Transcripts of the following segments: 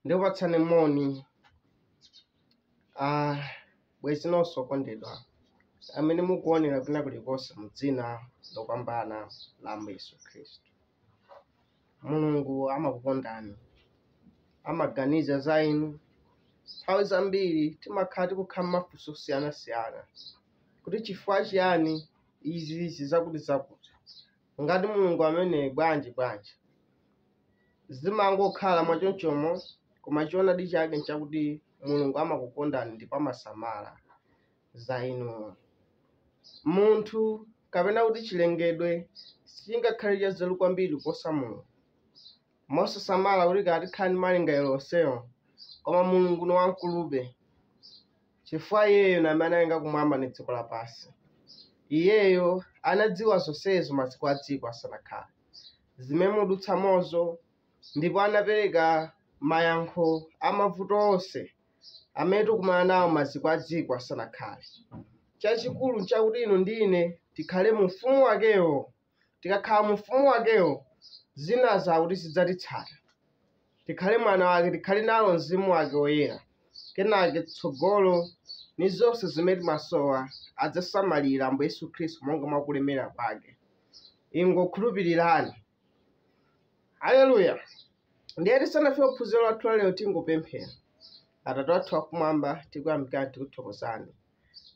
ndikupatsani moni ah, bwezi nonse okondedwa amene mukuonera kwina kulikonse mu dzina lopambana la ambuye yesu khristu Mulungu amakukondani, amaganiza za inu. Nthawi zambiri timakhala tikukhala ndi mafunso osiyanasiyana kuti chifukwa chiyani izi zizakuti zakuti, ngati Mulungu amene bwanji bwanji. Zimangokhala mwachonchomo, koma choonadi chake nchakuti Mulungu amakukondani ndipo amasamala za inu. Munthu kapena kuti chilengedwe sichingakhale chanzeru kwambiri kuposa Mulungu. Mosasamala kuti kaya tikhala ndi malingaliro onsewo, koma Mulungu ni wamkulube, chifukwa iyeyo ni amene analenga kumwamba ndi dziko lapansi. Iyeyo anadziwa zonsezo maziko a dziko asanakhale, zimene mudutsamozo, ndipo anapereka mayankho a mavuto onse amene tikumana nawo maziko a dziko asanakhale. Chachikulu nchakuti inu ndi ine tikhale mu ufumu wakewo. Tikakhala mu ufumu wakewo, zina zakuti zidzatitsata. Tikhale mwana wake, tikhale nawo mzimu wake woyera. Kenake tsogolo ni zonse zimene timasowa adzasamalira Ambuye Yesu Khristu monga mwa kulemera kwake. Ingokhulupirirani. haleluya ndiye tisanafike kuphunziro lathu la lero tingopemphera atate wathu wakumwamba tikuyamikani tikuthokozani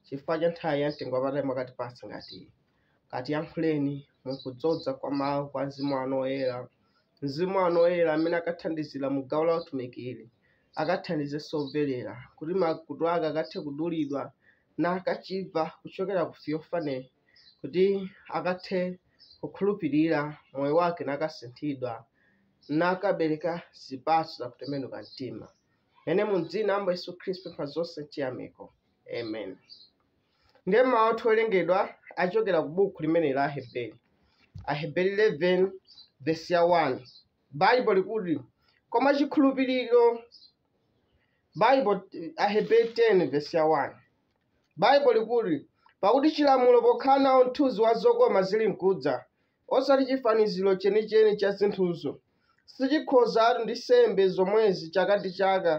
chifukwa cha nthawi ya mtengo wapatali mwakatipatsa ngati iyi katiyankhuleni mu kudzoza kwa mawu kwa mzimu wanu woyera mzimu wanu woyera amene akathandizira mu gawo la utumikiri akathandizenso omvera kuti makutu ake akathe kudulidwa nakachimva kuchokera ku fiofane kuti akathe kukhulupirira, moyo wake nakasinthidwa, nakabereka zipatso za kutembenuka mtima. Mu dzina la Ambuye Yesu Khristu ndapempha zonse ndi chiyamiko. Amen. Ndiye mawu athu owerengedwa achokera ku buku limene la Aheberi. Aheberi 11 vesi ya 1. Baibo likuti koma chikhulupiriro Baibo Aheberi 10 vesi ya 1. Baibo likuti, Pakuti chilamulo pokhala nawo mthunzi wa zokoma zilinkudza, osati chifaniziro chenicheni cha zinthuzo, sichikhozatu ndi nsembe zomwezi chaka ndi chaka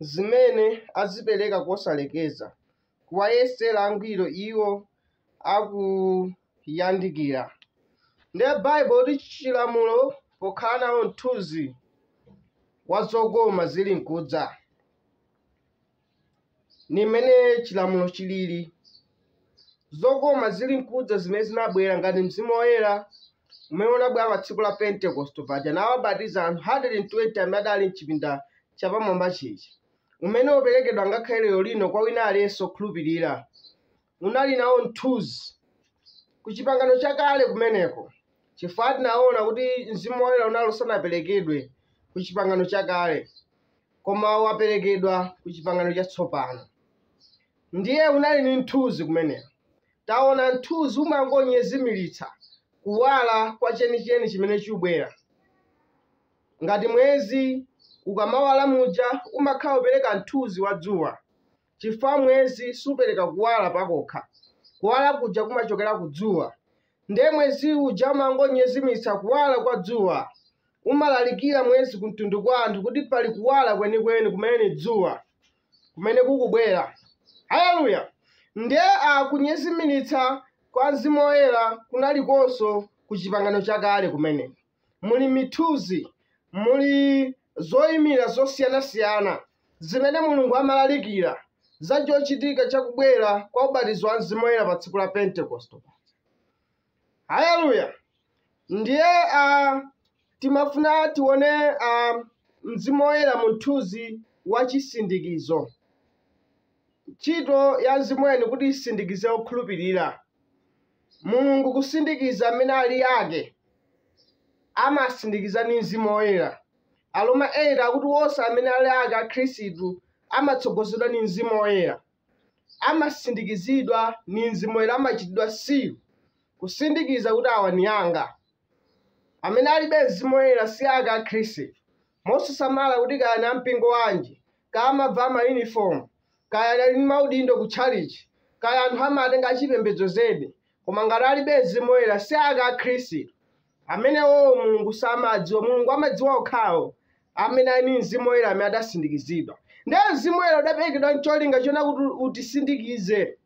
zimene azipereka kosalekeza, kuwayesera angwiro iwo akuyandikira. Ndiye Baibo ikuti chilamulo pokhala nawo mthunzi wa zokoma zilinkudza. ni mmene chilamulo chilili zokoma zili nkudza zimene zinabwera ngati mzimu woyera umene unabwera pa tsiku la pentekosto paja nawabatiza anthu 120 amene adali mchipinda chapamwamba chija umene uperekedwa ngakhale lero lino kwa wina aliyense okhulupirira unali nawo mthunzi ku chipangano chakale kumeneko, chifukwa tinaona kuti Mzimu Woyera unali usanaperekedwe ku chipangano chakale, koma waperekedwa ku chipangano chatsopano. Ndiye unali ni mthunzi kumeneko. Taona mthunzi umangonyezimiritsa kuwala kwa chenicheni chimene chubwera ngati mwezi ukamawala muja umakhala upereka mthunzi wa dzuwa chifukwa mwezi supereka kuwala pakokha kuwala kuja kumachokera ku dzuwa ndiye mwezi uja umangonyezimiritsa kuwala kwa dzuwa umalalikira mwezi ku mtundu kwa anthu kuti pali kuwala kwenikweni kumene ni dzuwa kumene kukubwera haleluya ndiye a kunyezimiritsa kwa mzimu woyera kunalikonso ku chipangano chakale kumene muli mithunzi, muli zoyimira zosiyanasiyana zimene Mulungu amalalikira za chochitika cha kubwera kwa ubatizo wa Mzimu Woyera pa tsiku la Pentekoste. Haleluya! Ndiye ah, timafuna tione ah, Mzimu Woyera mu mthunzi wa chisindikizo, ntchito ya Mzimu Woyera kuti isindikize okhulupirira. Mulungu kusindikiza amene ali ake, amasindikiza ndi Mzimu Woyera. Aroma 8 akuti wonse amene ali ake a Khristu amatsogozedwa ndi Mzimu Woyera, amasindikizidwa ndi Mzimu Woyera, amachitidwa seal, kusindikiza kuti awa ni anga. Amene alibe Mzimu Woyera si ake a Khristu, Mosasamala kuti kaya ni a mpingo wanji, kaya amavala mayunifomu, kaya ali ndi maudindo ku tchalitchi, kaya anthu amawatenga achipembedzo zedi, koma ngati alibe mzimu woyera si ake a Khristu. Amenewo Mulungu samawadziwa. Mulungu amadziwa okhawo amene ali ndi mzimu woyera amene adasindikizidwa. Ndiye mzimu woyera udaperekedwa n'cholinga chonena kuti utisindikize.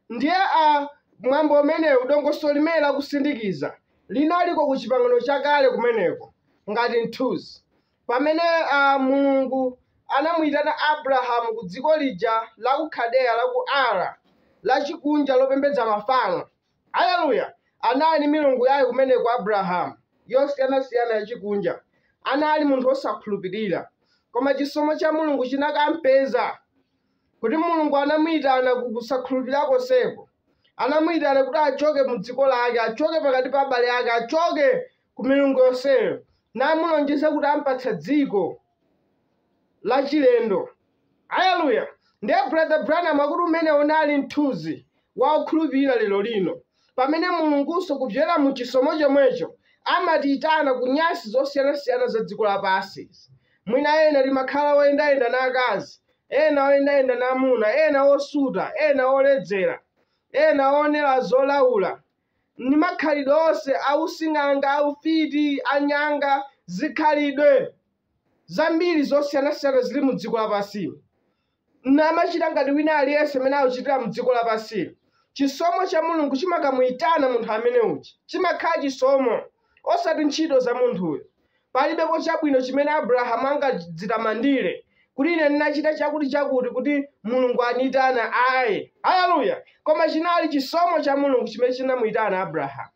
Ndiye a, mwambo umenewu, dongosolo limeneli la kusindikiza, linaliko ku Chipangano Chakale kumeneko, ngati mthunzi, pamene a, Mulungu anamuyitana Abrahamu ku dziko lija la ku Kaldeya, la ku Ur, lachikunja, lopembedza mafano. Aleluya! Anali ni milungu yake kumeneko, Abrahamu, yosiyanasiyana yachikunja. Anali munthu osakhulupirira. Koma chisomo cha Mulungu chinakampeza. kuti Mulungu anamuyitana ku kusakhulupirira konseko, anamuyitana kuti achoke mu dziko lake, achoke pakati pa abale ake, achoke ku milungu yonseyo, namulonjeza kuti ampatsa dziko lachilendo. Aleluya! Ndiye Brother Branham akuti umenewo unali mthunzi wa okhulupirira lero lino, pamene Mulungunso kudzera mu chisomo chomwecho amatiyitana ku nyansi zosiyanasiyana za dziko lapansi izi. Mwina ena timakhala oyendayenda na akazi, ena oyendayenda na amuna, ena osuta, ena oledzera, ena oonera zolaula, ni makhalidwe onse ausing'anga, aufiti, anyanga, zikhalidwe zambiri zosiyanasiyana zili mu dziko lapansili, namachita ngati wina aliyense amene akuchitira mu dziko lapansili, chisomo cha Mulungu chimakamuitana munthu amene uja. Chimakhala chisomo, osati ntchito za munthuyo. Palibepo chabwino chimene Abrahamu angadzitamandire, kuti ine ndinachita chakuti chakuti kuti Mulungu aniyitana. Ayi, haleluya! Koma chinali chisomo cha Mulungu chimene chinamuyitana Abrahamu.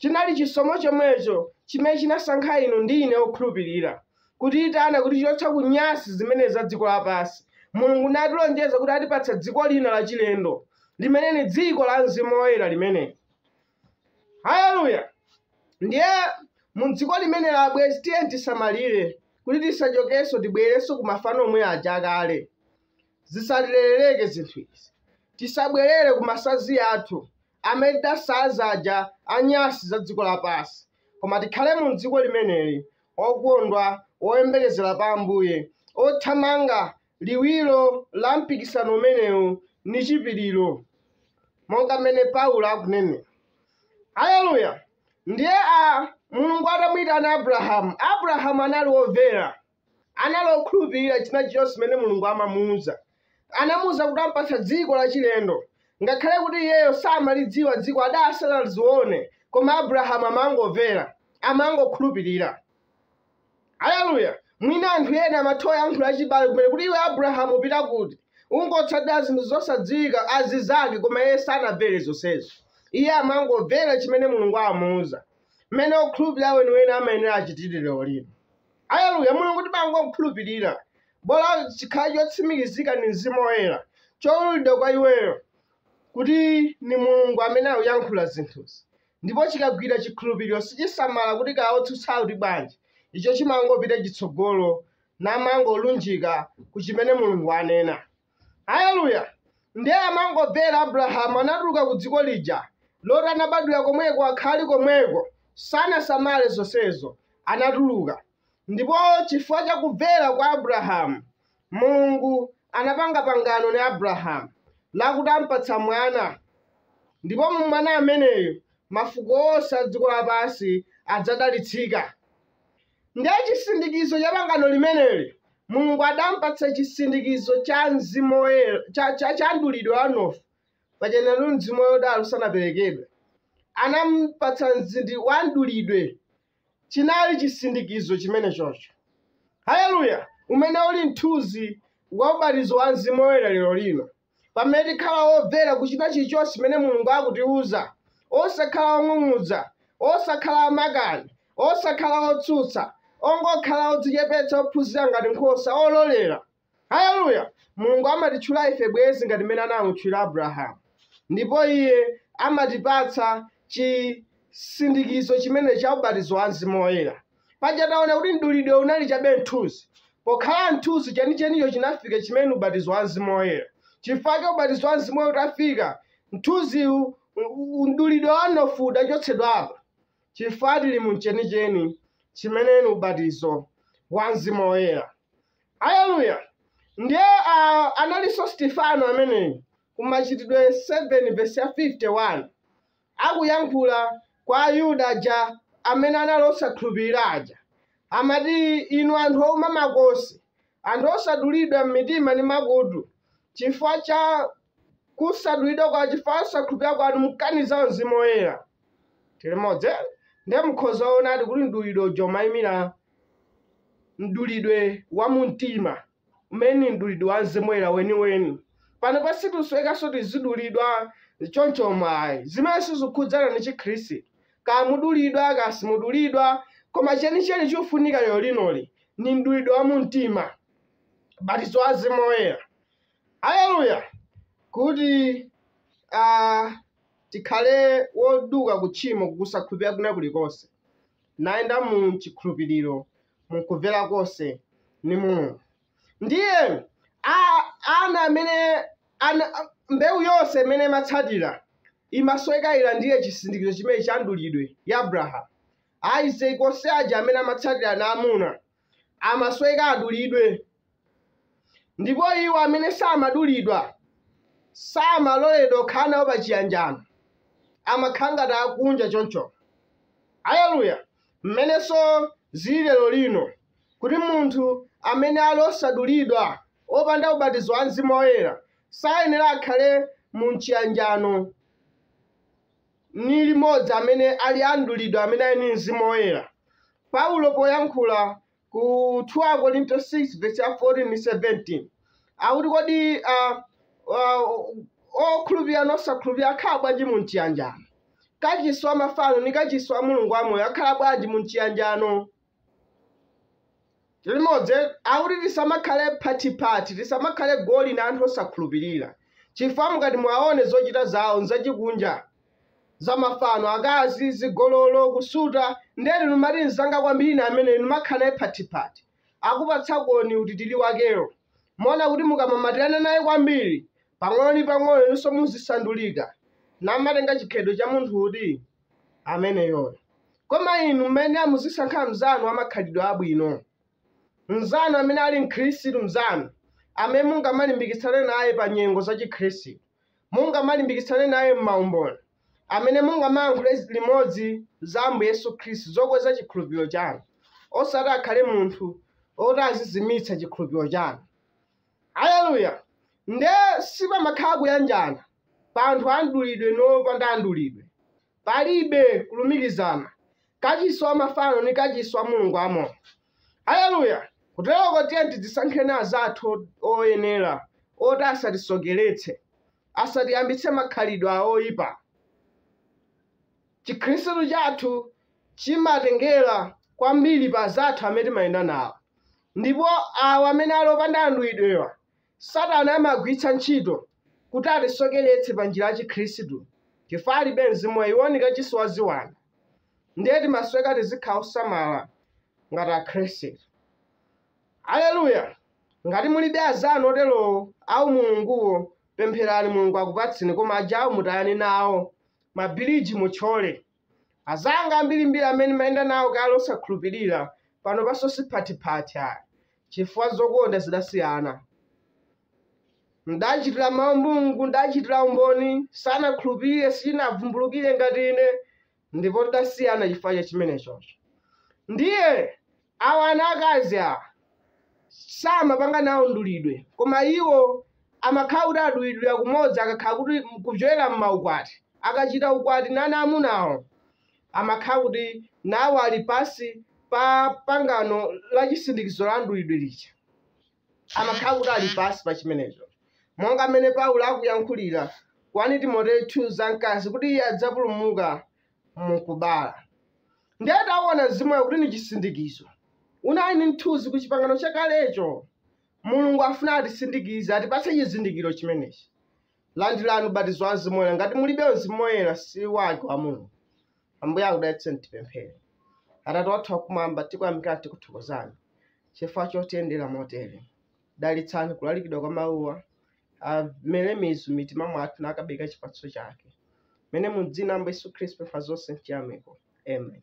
Chinali chisomo chomwecho chimene chinasankha inu ndi ine okhulupirira, kutiyitana kutichotsa ku nyansi zimenezi za dziko lapansi. Mulungu natilonjeza kuti atipatsa dziko lina lachilendo, limene ni dziko la Mzimu Woyera limeneli. haleluya ndiye mu dziko limeneli abwenzi tiyeni tisamalire kuti tisachokenso tibwerenso ku mafano omwe aja akale zisatilerereke zinthu izi tisabwerere ku masanzi athu amene tidasanza aja anyansi za dziko lapansi koma tikhale mu dziko limeneli okondwa oyembekezera pa ambuye othamanga Liwiro la mpikisano umenewu ni chipiriro, monga mmene Paulo akunenera. Haleluya! Ndiye a, Mulungu atamuitana Abrahamu, Abrahamu anali womvera. Anali okhulupirira china chilichonse chimene Mulungu amamuuza. Anamuuza kuti am'patsa dziko lachilendo. Ngakhale kuti iyeyo samalidziwa dziko, adali asanazione, koma Abrahamu amangomvera, amangokhulupirira. Aleluya! Mwina anthu ena amatha kuyankhula achibale kumene kuti, Iwe Abrahamu upita kuti? Ungotsatira zinthu zosadziwika, azizake, koma iye sanamvere zonsezo. Iye amangomvera chimene Mulungu amamuuza, mmene okhulupirira weniweni amayenera achitire lero lino. Aleluya! Mulungu timangomkhulupirira, bola chikhale chotsimikizika ndi Mzimu Woyera, chowululidwa kwa iweyo kuti ndi Mulungu amene akuyankhula zinthuzi. ndipo chikagwira chikhulupiriro sichisamala kuti kaya otsutsa kuti bwanji icho chimangopita chitsogolo namangolunjika ku chimene mulungu anena haleluya ndiye amangomvera abrahamu anatuluka ku dziko lija loti anabadwira komweko akhali komweko sanasamale zonsezo anatuluka Ndipo chifukwa cha kumvera kwa Abrahamu, Mulungu anapanga pangano ndi Abrahamu lakuti ampatsa mwana, ndipo mu mwana ameneyu mafuko onse a dziko lapansi adzadalitsika. Ndiye chisindikizo cha pangano limeneli, Mulungu adampatsa chisindikizo cha Mzimu Woyera, cha, cha, cha mdulidwe wa mnofu, paja nenatu Mzimu Woyera udali usanaperekedwe. Anampatsa mzindi wa mdulidwe chinali chisindikizo chimenechocho, haleluya, umene uli mthunzi wa ubatizo wa Mzimu Woyera lero lino, pamene tikhala womvera kuchita chilichonse chimene Mulungu akutiuza, osakhala ong'ung'udza, osakhala amakani, osakhala otsutsa, ongokhala odzichepetsa, ophunzira ngati nkhosa, ololera. Haleluya! Mulungu amatitchula ife bwenzi ngati mmene anamutchulira Abrahamu, ndipo Iye amatipatsa chisindikizo chimenecho cha ubatizo wa Mzimu Woyera. Paja taona kuti mdulidwe unali chabe mthunzi. Pokhala mthunzi, chenichenicho chinafika chimene ndi ubatizo wa Mzimu Woyera. Chifukwa chake ubatizo wa Mzimu Woyera utafika, mthunziwu, u- u- mdulidwe wa mnofu udachotsedwapo, chifukwa tili mu chenicheni chimene ndi ubatizo wa Mzimu Woyera. Aleluya! Ndiye ah, analinso Stefano ameneyu ku Machitidwe 7 vesi ya 51 akuyankhula kwa Ayuda aja amene anali osakhulupirira aja, amati inu anthu ouma makosi, anthu osadulidwa m'mitima ndi makutu, chifukwa cha kusadulidwa kwa chifukwa chosakhulupirira kwanu mukaniza mzimu woyera. tili modzi eh? ndiye mukhoza kuonadi kuti mdulidwe uja umayimira mdulidwe wa mumtima umene ni mdulidwe wa mzimu woyera weniweni pano situsowekanso tizidulidwa choncho mwa izi zimene sizikhudzana ni chikhristu kaya mudulidwa kaya simudulidwa koma chenicheni chofunika lero linoli ni mdulidwe wa mumtima ubatizo wa mzimu woyera Aleluya! Kuti a, tikhale woduka ku tchimo, ku kusakhulupirira kwina kulikonse, nayenda mu chikhulupiriro, mu kumvera konse ni Mulungu. Ndiye a, ana amene ana, mbewu yonse imene imatsatira imasoweka ilandire chisindikizo chimene cha mdulidwe ya Abrahamu. Isaac onse aja amene amatsatira ana amuna amasoweka adulidwe. Ndipo iwo amene samadulidwa samaloledwa kukhala nawo pa chiyanjano, amakhala ngati akunja choncho. Aleluya! Mmenenso zili lero lino, kuti munthu amene ali osadulidwa, opanda ubatizo wa Mzimu Woyera, sayenera akhale mu mchiyanjano. ni limodzi amene ali a mdulidwe amene ali ni mzimu woyera paulo poyankhula ku 2 akorinto 6 vesi ya 14 ndi 17 akuti kodi uh, uh, okhulupirira ni osakhulupirira akhala bwanji mu mchiyanjano kachisi wa mafano ni kachisi wa mulungu wamoyo akhala bwanji mu mchiyanjano limodzi akuti tisamakhale phathiphathi, tisamakhale goli na anthu osakhulupilila, cifukwa mukati muwaone zocita zawo n'zacikunja, za mafano, akazi, zigololo, kusuta, ndiye inu mumati mnzanga kwambili ni ameneyo, nimakhala naye phathiphathi. Akupatsakoni utitili wakewo. Muona kuti mukamamatilana naye kwambili, pang'ono ni pang'ono inunso muzisandulika, namatenga cikhalidwe ca munthu uti? ameneyoyo. Koma inu mmene muzisankha mnzanu wamakhalidwe abwino, mnzanu amene ali Mkhristu mnzanu, amene mungamalimbikitsane naye pa nyengo za Chikhristu, mungamalimbikitsane naye m'maumboni, amene mungamayankhule limodzi za Ambuye Yesu Khristu zokweza chikhulupiriro chanu, osati akhale munthu woti azizimitsa chikhulupiriro chanu. Aleluya! Nde sipamakhala kuyanjana pa anthu a mdulidwe ni opanda mdulidwe. Palibe kulumikizana. Kacisi wa mafano ni kacisi wa Mulungu wamoyo. Aleluya! Kuteloko tiyeni tidzisankheni azathu oyenela oti asatisokeletse, asatiyambitse makhalidwe a oipa. Cikhristu cathu cimatengela kwambili pa azathu amene timayenda nawo. Ndipo awa amene ali opanda a mdulidwewa, Satana amagwiritsa ntchito kuti atisokeretse pa njira ya Chikhristu chifukwa alibe Mzimu Woyera. Iwo ni kachisi wa ziwanda. Ndiye timasoweka tizikhala osamala ngati Akhristu. Aleluya! Ngati mulibe azanu oterowo, a umulunguwo, pempherani Mulungu akupatseni, koma ajawo mutayane nawo, mabiriji mutchole. Azanga ambirimbiri amene nimayenda nawo kale osakhulupirira pano paso siphathiphathi ayi chifukwa zokonda zidasiyana. Ndachitira mawu Mulungu, ndachitira umboni, sanakhulupirire, sichinavumbulukire ngati ine ndipo tidasiyana chifukwa cha chimenechocho. Ndiye Awa ana akazi awa samapanga nawo mdulidwe koma iwo amakhala kuti adulidwira kumodzi akakhala kuti kupyolera mmaukwati akachita ukwati ndi ana amunawo amakhala kuti nawo ali pansi pa pangano la chisindikizo la mdulidwe lija amakhala kuti ali pansi pa chimenecho monga mmene paulo akuyankhulira 1 timoteyo 2 za mkazi kuti iye adzapulumuka mukubala ndiye taona mzimu woyera kuti ni chisindikizo unali ni mthunzi ku chipangano chakalecho mulungu afuna atisindikize atipatse chizindikiro chimenechi landirani ubatizo wa mzimu woyera ngati mulibe mzimu woyera si wake wa mulungu ambuye akudalitseni tipemphere atate wathu wakumwamba tikuyamikani tikuthokozani chifukwa chotiyendera motere Dalitsani kulalikidwa kwa mawuwa, amere mizu m'mitima mwathu nakabereka chipatso chake. Mene mu dzina la Ambuye Yesu Khristu tipempha zonse m'chiyamiko. Amen.